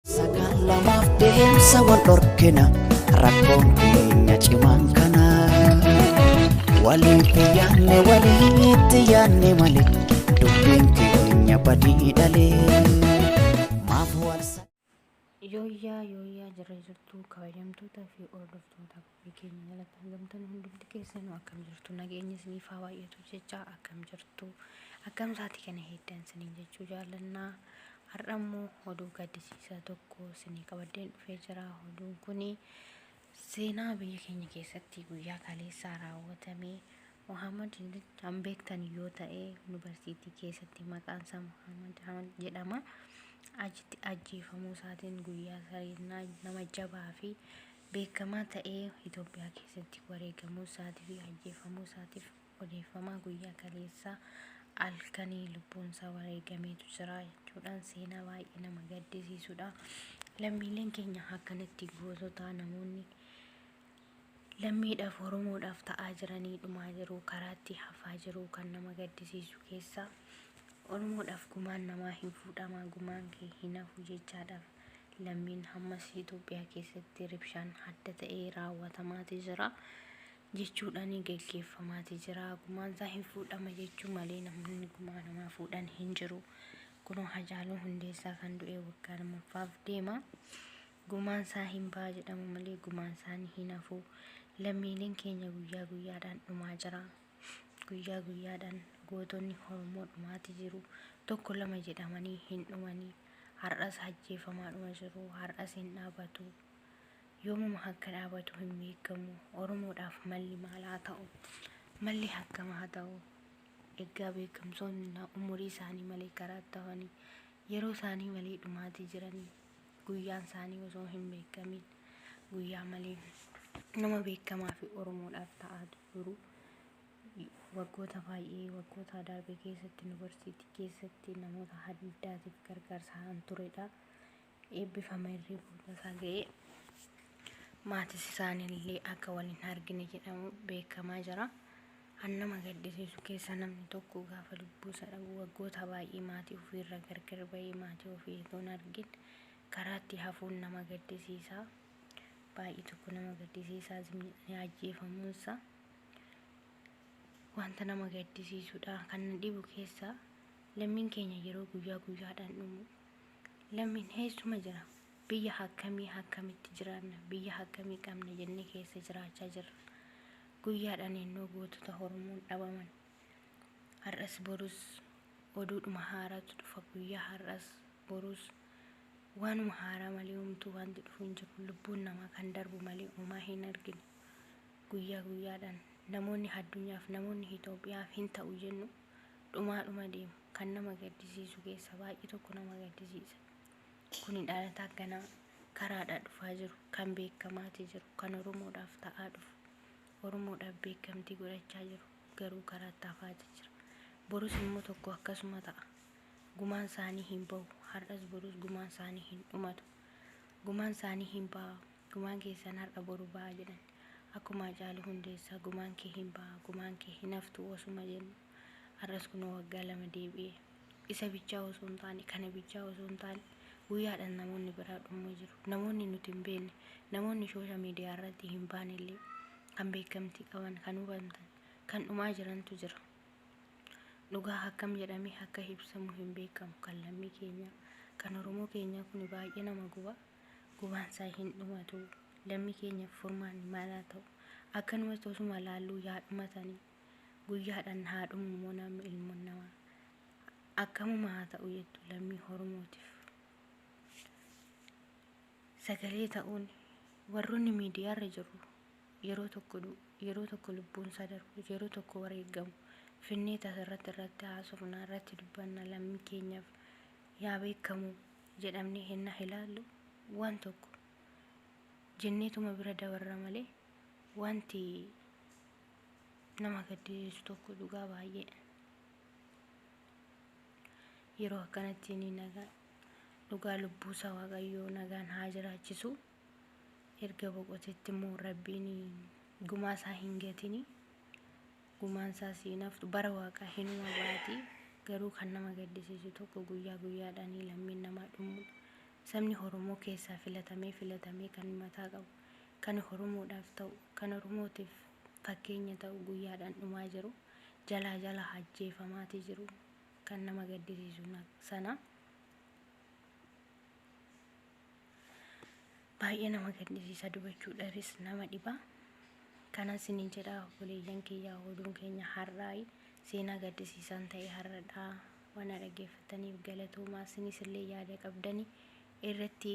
Sakaan lamaaf deemsa wal dhorkina rakkoon keenya cimaan kana walitti yaanne walitti yaanne malee dubbiin keenya badii dhalee maaf wal Yooyyaa yooyyaa jirra jirtuu kabajamtoota fi hordoftoota Maatii keenya jalatti argamtan hundumti keessanuu akkam jirtu? Nageenyi isiniif haa baay'atu jechaa akkam jirtu? Akkam saatii kana heeddan isiniin jechuu jaallanna. Har'a immoo oduu gaddisiisaa tokko isinii qabaddeen dhufee jira. Oduun kuni seenaa biyya keenya keessatti guyyaa kaleessaa raawwatame Muhammad kan beektan yoo ta'e yuunivarsiitii keessatti maqaan isaa Muhammad Ahmad jedhama. Achitti ajjeefamuu isaatiin guyyaa sariinaa nama jabaa fi beekamaa ta'ee Itoophiyaa keessatti wareegamuu isaatii fi ajjeefamuu isaatiif odeeffamaa guyyaa kaleessaa halkanii lubbuun isaa wareegameetu jira jechuudhaan seenaa baay'ee nama gaddisiisudha. Lammiileen keenya akkanatti goototaa namoonni lammiidhaaf Oromoodhaaf ta'aa jiranii dhumaa jiru karaatti hafaa jiru kan nama gaddisiisu keessaa Oromoodhaaf gumaan namaa hin fuudhama gumaan kee hin hafu jechaadhaaf lammiin hammas Itoophiyaa keessatti ribshaan adda ta'ee raawwatamaati jira jechuudhaan geggeeffamaati jira. Gumaansaa hin fuudhama jechuu malee namoonni gumaa namaa fuudhan hin jiru. Kunoo Hacaaluu Hundeessaa kan du'e waggaa lammaffaaf deema. Gumaansaa hin ba'a jedhamu malee gumaansaanii hin hafu. Lammiileen keenya guyyaa guyyaadhaan dhumaa jira. Guyyaa guyyaadhaan gootonni Oromoo dhumaati jiru. Tokko lama jedhamanii hin dhumanii. Har'as hajjeefamaadhuma jiru. Har'as hin dhaabatu. Yoomuma hakka dhaabatu hin beekamu. Oromoodhaaf malli maal haa ta'u? Malli hakkam haa ta'u? Eggaa beekamsoonni na umurii isaanii malee karaatti hafanii, yeroo isaanii malee dhumaatii jiranii, guyyaan isaanii osoo hin beekamin, guyyaa malee nama beekamaa fi Oromoodhaaf ta'aa jiru Waggoota baay'ee, waggoota darbe keessatti Yuunivarsiitii keessatti namoota haddaatiif gargaarsa kan turedha. Eebbifamee reefuu lafa ga'ee maatis isaanillee akka wal hin argine jedhamu beekamaa jira. Kan nama gaddisiisu keessa namni tokko gaafa lubbuusa dhabu waggoota baay'ee maatii ofiirra gargar ba'ee maatii ofii otoo hin argin karaatti hafuun nama gaddisiisa. Baay'ee tokko nama gaddisiisaa zimni ajjeefamuunsa wanta nama gaddisiisudha kan na dhibu keessaa lammiin keenya yeroo guyyaa guyyaadhaan dhumu lammiin heessuma jira biyya hakkamii hakkamitti jiraanna biyya hakkamii qabna jennee keessa jiraachaa jirra guyyaadhaan ennoo gootota hormuun dhabaman har'as borus oduudhuma haaraatu dhufa guyyaa har'as borus waanuma haaraa malee umtuu wanti dhufu hin jiru lubbuun namaa kan darbu malee umaa hin argine Guyyaa guyyaadhaan namoonni haddunyaaf namoonni hitoophiyaaf hin ta'u jennu dhumaa dhuma deemu kan nama gaddisiisu keessa baay'ee tokko nama gaddisiisa kuni dhalataa ganaa karaadhaa dhufaa jiru kan beekamaati jiru kan oromoodhaaf ta'aa dhufu oromoodhaaf beekamtii godhachaa jiru garuu karaatti hafaati jira borus immoo tokko akkasuma ta'a gumaan isaanii hin bahu har'as borus gumaan isaanii hin dhumatu gumaan isaanii hin baha Gumaan keessan har'a boru ba'a jedhan. Akkuma Hacaaluu Hundeessaa gumaan kee hin ba'a, gumaan kee hin haftu osuma jennu har'as kunoo waggaa lama deebi'ee. Isa bichaa osoo hin taane, kana bichaa osoo hin taane guyyaadhan namoonni biraa dhumma jiru. Namoonni nuti hin beekne, namoonni shoosha miidiyaa irratti hin baane illee kan beekamtii qaban, kan hubantan, kan dhumaa jirantu jira. Dhugaa akkam jedhamee akka ibsamu hin beekamu. Kan lammii keenyaa, kan Oromoo keenyaa kuni baay'ee nama guba. gubaansaa hin dhumatu lammi keenyaf furmaanni maal haa ta'u akkanumatti osuma laalluu yaa dhumatani guyyaadhan haa dhumu immoo namni ilmoon namaa akkamuma haa ta'u jettu lammii horomootif sagalee ta'uun warroonni miidiyaarra jirru yeroo tokko du- yeroo tokko lubbuun isaa darbu yeroo tokko wareegamu finnee tasarratti irratti haasofna irratti dubbanna lammii keenyaf yaa beekamu jedhamnee hennaa ilaallu waan tokko jenneetuma bira dabarra malee wanti nama gaddisiisu tokko dhugaa baay'ee yeroo akkanatti ni nagaa dhugaa lubbuusaa waaqayyoo nagaan haa jiraachisu erga boqotetti immoo rabbiin gumaasaa hin gatinii gumaan isaa si hin haftu bara waaqaa hinuma baati garuu kan nama gaddisiisu tokko guyyaa guyyaadhaanii lammiin namaa dhumuudha sabni horomoo keessaa filatamee filatamee kan mataa qabu kan horomoodhaaf ta'u kan oromootiif fakkeenya ta'u guyyaadhaan dhumaa jiru jalaa jalaa hajjeefamaatii jiru kan nama gaddisiisu sana baay'ee nama gaddisiisa dubachuudhaafis nama dhiba kanan sinin jedha obboleeyyan kiyya oduun keenya har'aa seenaa gaddisiisaan ta'e har'adha waan dhaggeeffataniif galatoomaa sinis illee yaada qabdani irratti